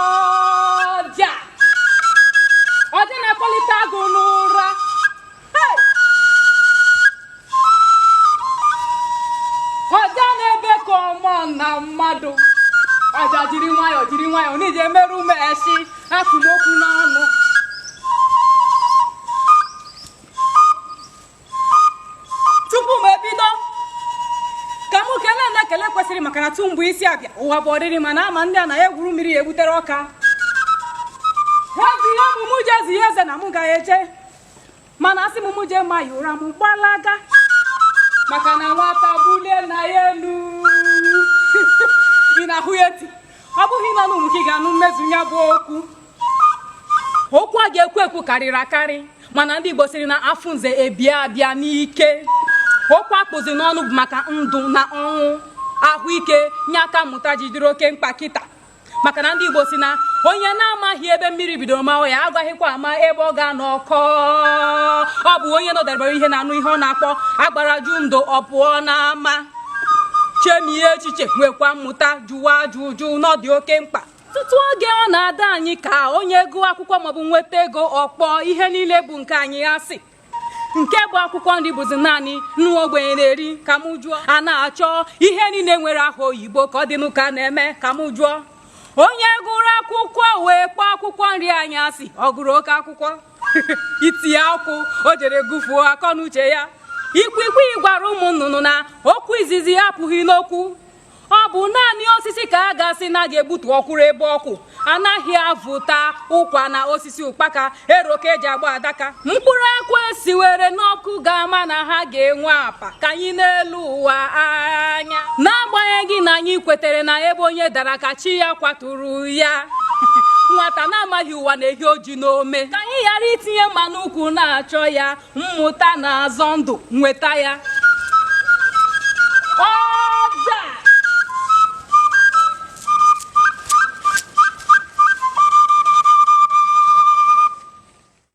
ọja ọja na-akpọlite agụ n'ụra Hey! ọja na-ebe ka mmụọ na mmadụ ọja jiri nwayọọ jiri nwayọọ n'iji emerụ ume esi akpụ m okwu n'ọnụ tupu m ebido ka m kelee ndị ekele kwesịrị maka na tu mgbe isi abịa ụwa bụ ọdịrị mana ama ndị a na ya egwuru mmiri ya egbutere ọka ha bụ ihe bụ mụ ji eze ya eze na mụ agaghị eje mana asị m mụ jee ma ya ụra m gbalaga maka na nwata bulie nna ya elu ị na-ahụ ya eti ọ bụghị n'ọnụ m ka ị ga-anụ mmezu ya bụ okwu okwu a ga-ekwu ekwu karịrị akarị mana ndị Igbo sịrị na afụ nze ebie abịa n'ike okwu a kpụzi n'ọnụ bụ maka ndụ na ọnwụ ahụike ya ka mmụta ji dịrị oke mkpa kịta maka na ndị Igbo sị na onye na-amaghị ebe mmiri bidoro maa ya agaghịkwa ama ebe ọ ga-anọ kọọ ọ bụ onye nọdebere uhie na-anụ ihe ọ na-akpọ agbara jụ ndo ọ pụọ n'ama chemie echiche nwekwa mmụta jụwa ajụjụ na ọ dị oke mkpa ọtụtụ oge ọ na-adị anyị ka onye gụọ akwụkwọ maọbụ nweta ego ọ kpọọ ihe niile bụ nke anyị asị nke bụ akwụkwọ nri bụzi naanị ndị ogbenye na-eri ka m jụọ a na-achọ ihe niile nwere aha oyibo ka ọ dị n'ụka na-eme ka m jụọ onye gụrụ akwụkwọ wee kpọọ akwụkwọ nri anyị asị ọ gụrụ oke akwụkwọ iti akụ o jere gụfuo akọ na uche ya ikwikwii gwara ụmụ nnụnụ na okwu izizi apụghị n'okwu ọ bụ naanị osisi ka a ga-asị na a ga-egbutu ọ kwụrụ ebe ọ kwụ anaghị avụta ụkwa n'osisi ụkpaka ero ka e ji agba adaka mkpụrụ akwụ e siwere n'ọkụ ga-ama na ha ga-enwe apa ka anyị nelu ụwa anya na-agbanyeghị na anyị kwetere na ebe onye dara ka chi ya kwaturu ya nwata na-amaghị ụwa na-ehi ọjị n'ome ka anyị ghara itinye mma n'ukwu na-achọ ya mmụta na-azọ ndụ nweta ya ọja